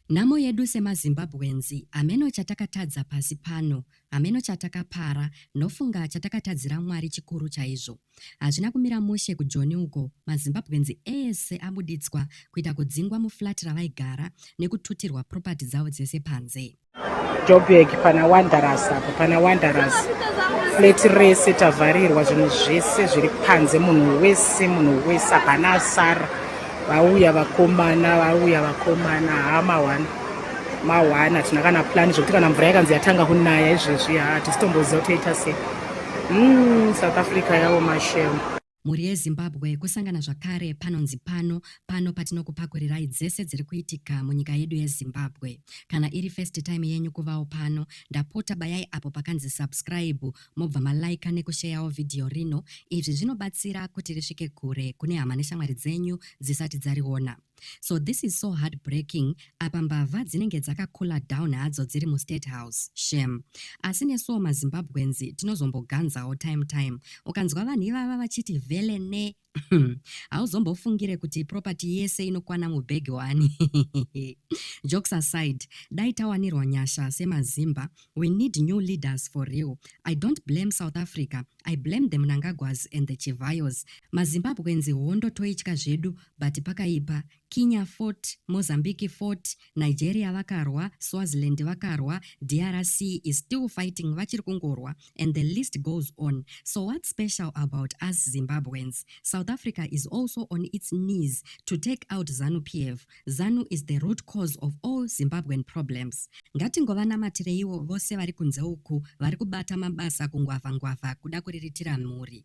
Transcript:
Nhamo yedu semaZimbabweans hameno chatakatadza pasi pano hameno chatakapara ndofunga chatakatadzira Mwari chikuru chaizvo hazvina kumira mushe kuJoni uko maZimbabweans ese abuditswa kuita kudzingwa muflat ravaigara nekututirwa property dzavo dzese panze Joburg pana Wanderers apo pana Wanderers flat rese tavharirwa zvinhu zvese zviri panze munhu wese munhu wese hapana asara vauya vakomana vauya vakomana haa mawana mawana hatina kana plani zvekuti kana mvura yakanzi yatanga kunaya izvezvi haa tisitomboziva toita sei mm, south africa yawo mashema Mhuri yeZimbabwe kusangana zvakare panonzi pano, pano patinokupakurirai dzese dziri kuitika munyika yedu yeZimbabwe. Kana iri first time yenyu kuvawo pano, ndapota bayai apo pakanzi subscribe mobva maliker nekusheyawo vhidhiyo rino, izvi zvinobatsira kuti risvike kure kune hama neshamwari dzenyu dzisati dzariona. So this is so heartbreaking apa mbavha dzinenge dzakacooler down hadzo dziri mustate house shem asi nesuwo mazimbabweans tinozomboganzawo time time ukanzwa vanhu ivava vachiti vele ne hauzombofungire kuti property yese inokwana mubhegi wani jokes aside dai tawanirwa nyasha semazimba we need new leaders for real i don't blame south africa i blame the mnangagwas and the chivayos mazimbabweans hondo toitya zvedu but pakaipa Kinya fought, Mozambique fought, Nigeria vakarwa, Swaziland vakarwa, DRC is still fighting vachiri kungorwa and the list goes on. So what special about us Zimbabweans? South Africa is also on its knees to take out Zanu PF. Zanu is the root cause of all Zimbabwean problems. Ngatingovanamatiriwo vose vari kunze uku vari kubata mabasa kungwavha ngwavha kuda kuriritira mhuri.